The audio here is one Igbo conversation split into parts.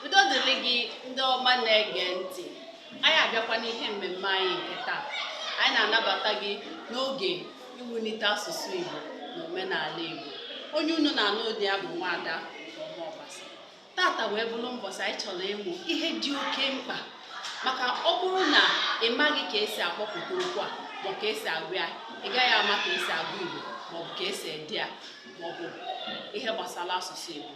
udo dịrị gị ndị ọma na-ege ntị anyị abịakwa n'ihe mmemme anyị nke taa anyị na-anabata gị n'oge iwulite asụsụ Igbo na omenala Igbo onye unu na-anụ olu ya bụ nwaada tata wee bụrụ mbọsị anyị chọrọ ịmụ ihe dị oke mkpa maka ọ bụrụ na ị maghị ka esi akpọpụta okwu a ma ka esi agụ ya ị gaghị ama ka esi agụ igbo maọbụ ka esi ede ya maọbụ ihe gbasara asụsụ igbo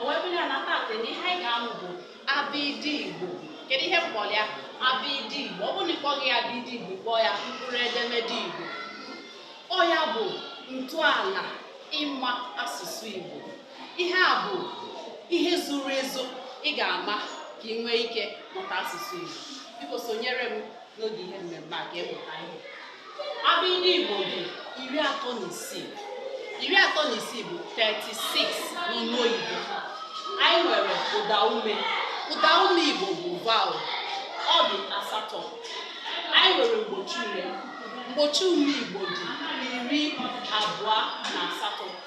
o wee bụrụ ya na tata na ihe anyị ga-amụ bụ abịdị igbo kedu ihe m kpọrọ ya abịdị igbo ọ bụrụ na ị kpọghị ya abịdị igbo kpọọ ya mkpụrụ edemede igbo ọ ya bụ ntọala ịma asụsụ igbo ihe a bụ ihe zuru ezu ị ga-ama ka ị nwee ike mụta asụsụ Igbo biko sonyere m n'oge ihe mmemme a ka ị mụta ihe abịdị Igbo dị iri atọ na isii iri atọ na isii bụ 36 n'olu oyibo anyị nwere ụda ume ụda ume Igbo bụ vowel ọ dị asatọ anyị nwere mgbochi ume mgbochi ume Igbo dị iri abụọ na asatọ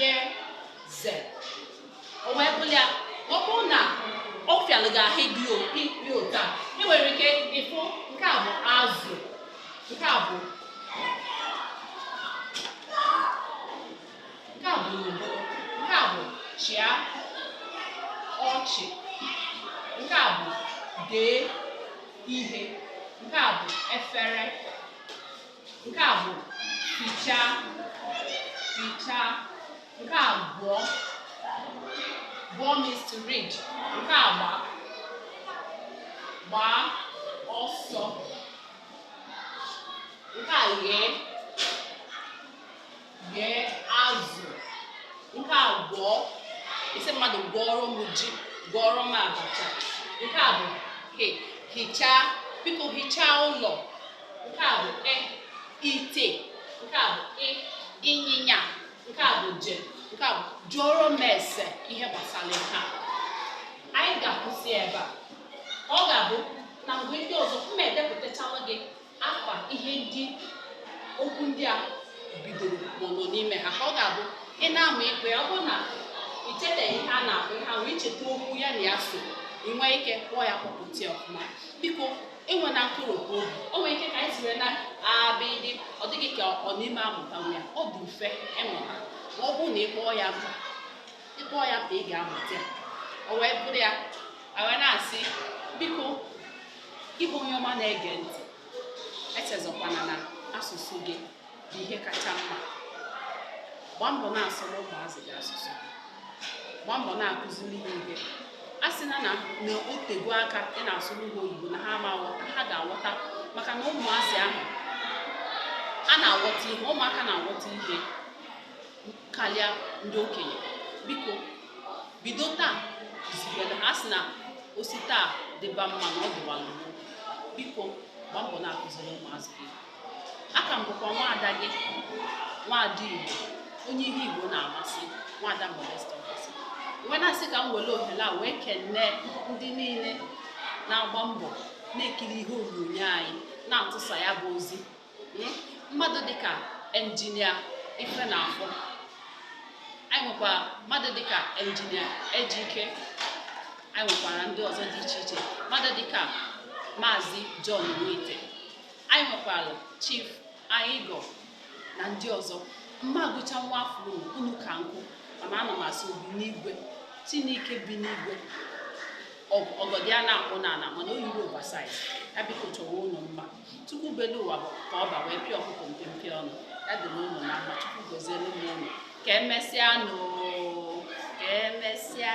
ye ze o wee bụrụ ya ọ bụrụ na ọ fịalụ gị ahụ ịkpọpụta ị nwere ike ịfụ nke a bụ azụ nke a bụ nke a bụ ugbo nke a bụ chịa ọchị nke a bụ dee ihe nke a bụ efere nke a bụ fichaa fichaa nke a gụọ gụọ means to read nke a gba gbaa ọsọ nke a ghee ghee azụ nke a gwọọ ị sị mmadụ gwọọrọ m ji gwọọrọ m abacha nke a bụ he hichaa biko hichaa ụlọ nke a bụ i ite nke a bụ ị ịnyịnya nke a bụ je nke a bụ jụọrọ m ese ihe gbasara ihe a anyị ga-akwụsị ebe a ọ ga-abụ na mgbe ndị ọzọ m edepụtachala gị afa ihe ndị okwu ndị a bidoro ma ọ nọ n'ime ha ka ọ ga-abụ ị na-amụ ịkpọ ya ọ bụrụ na i cheteghị ihe a na-akpọ ihe ahụ i cheta okwu ya na ya so ị nwee ike kpọọ ya kpọpụta ya ọfụma biko enwena nkoropu obi o nwere ike ka anyị siri na abịdị ọ dị gị ka ọ na ị ma amụtanwu ya ọ dị mfe ịmụta ma ọ bụrụ na ị kpọọ ya mkpa ị kpọọ ya mkpa ị ga-amụta ya o wee bụrụ ya wee na-asị biko Gị bụ onye ọma na-ege ntị, echezọkwana na asụsụ gị bụ ihe kacha mma. Gbaa mbọ na-asụrụ ụmụazị gị asụsụ. Gbaa mbọ na-akụziri ha ihe. A sị na na na o tego aka ị na-asụrụ ha oyibo na ha ama aghọta, ha ga-aghọta maka na ụmụazị ahụ ha na-aghọta ihe, ụmụaka na-aghọta ihe. karịa ndị okenye biko bido taa zibere ha sị na o si taa dịba mma na ọ dịwala gboo biko gbaa mbọ na-akụziri ụmụazị gị a ka m bụkwa nwaada gị nwaada igbo onye ihe igbo na-amasị nwaada modesta ọbasi wee na-asị ka m were ohere a wee kenee ndị niile na-agba mbọ na-ekiri ihe onyonyo anyị na-atụsa ya bụ ozi hmm, mmadụ dịka engineer Ifenafọ anyị nwekwa mmadụ dịka engineer ejike anyị nwekwara ndị ọzọ dị iche iche mmadụ dịka maazị John Nwite anyị nwekwara chief Anyigọ na ndị ọzọ m ma agụcha nwa afọ ọnụ ka nkụ mana ana m asị obi n'igwe chineke bi n'igwe ọgọdọ ya na-akpụ n'ala mana o yirọ oversize ya biko chọwa unu mma Chukwu belu ụwa ka ọba wee pịa ọkụkọ mpempe ọnụ ya dịrị unu na mma Chukwu goziere m unu ka emesịa nụ ka emesịa